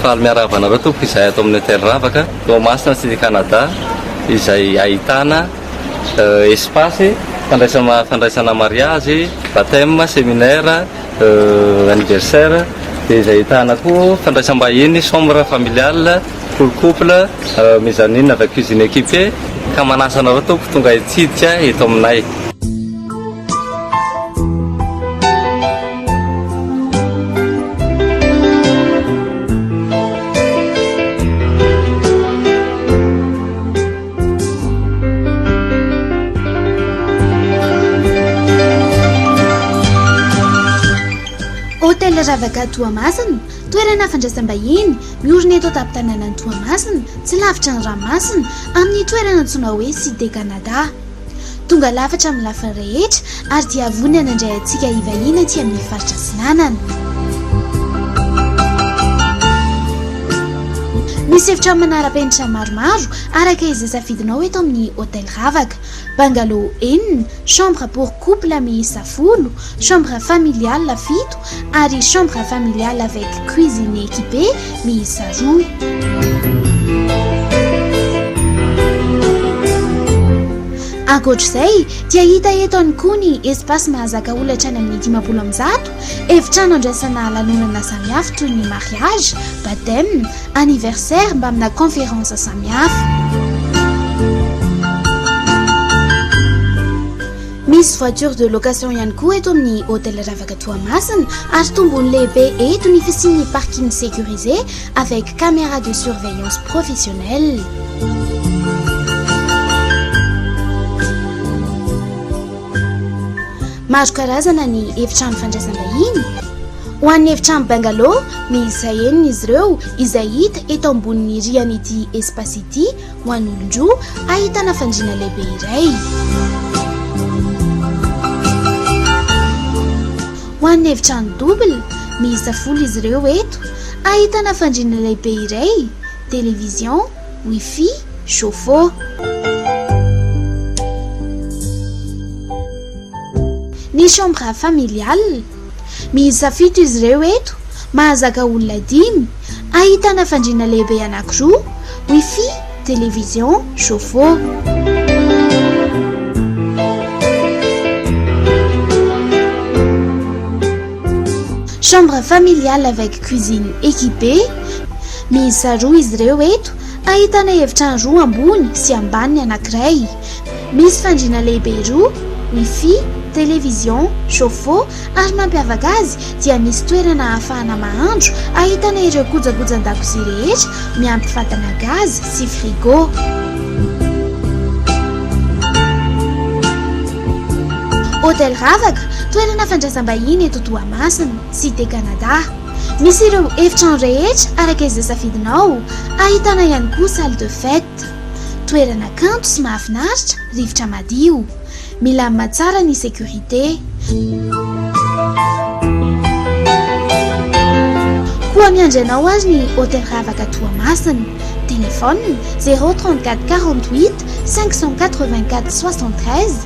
Faly miarahaba anareo tompoko izay ato amin'ny hôtel Ravaka, Toamasina sy ny Canada izay ahitana euh, espace fandraisana fandraisana mariage, baptême, séminaire, euh, anniversaire dia izay ahitana koa fandraisam-bahiny, chambre familiale. Full couple, mezzanine avec cuisine équipée, ka manasa anareo tompoko tonga hitsidika eto aminay. Hotel Ravaka Toamasina. Toerana fandraisam-bahiny miorina eto an-tampon-tanànan'i Toamasina, tsy lavitra ny ranomasina, amin'ny toerana antsoina hoe Cité Canada. Tonga lafatra amin'ny lafiny rehetra ary dia vonona nandray antsika hivahiny aty amin'ny faritra Atsinanana. Misy efitrano manara-penitra maromaro araka izay safidinao eto amin'ny Hotel Ravaka. Bungalow enina, chambre pour couple miisa folo, chambre familiale fito ary chambre familiale avec cuisine équipée miisa roa. Ankoatra izay dia hita eto ihany koa ny espace mahazaka olona hatrany amin'ny dimampolo amin'ny zato, efitrano handraisana lanonana samihafa toy ny mariage, baptême, anniversaire mbamina conférence samihafa. Misy voiture de location ihany koa eto amin'ny hôtel Ravaka Toamasina ary tombony lehibe eto ny fisian'ny parking sécurisé avec caméra de surveillance professionnelle. Maro karazana ny efitrano fandraisam-bahiny. Ho an'ny efitrano bungalow miisa enina izy ireo izay hita eto ambonin'ny rihan'ity espace ity ho an'olon-droa ahitana fandriana lehibe iray. Ho an'ny efitrano double miisa folo izy ireo eto ahitana fandriana lehibe iray, television, wifi, chauffe-eau. Ny chambre familiale. Miisa fito izy ireo eto, mahazaka olona dimy, ahitana fandriana lehibe anankiroa, wifi, television, chauffe-eau. Chambre familiale avec cuisine équipée, Miisa roa izy ireo eto, ahitana efitrano roa ambony sy ambany ny anankiray. Misy fandriana lehibe roa, Wifi, Television, Chauffe-eau, ary mampiavaka azy dia misy toerana ahafahana mahandro ahitana ireo kojakojan-dakozia rehetra miampy fatana gaz sy frigo. Hôtel Ravaka, toerana fandraisam-bahiny eto Toamasina, Cité Canada. Misy ireo efitrano rehetra araka izay safidinao, ahitana ihany koa salle de fête. Art. Toerana kanto sy mahafinaritra, rivotra madio. Milamina tsara ny sécurité. Koa miandry anao ary ny Hôtel Ravaka Toamasina. Téléphone, zéro trente-quatre quarante-huit cinq cent quatre-vingt-quatre soixante-treize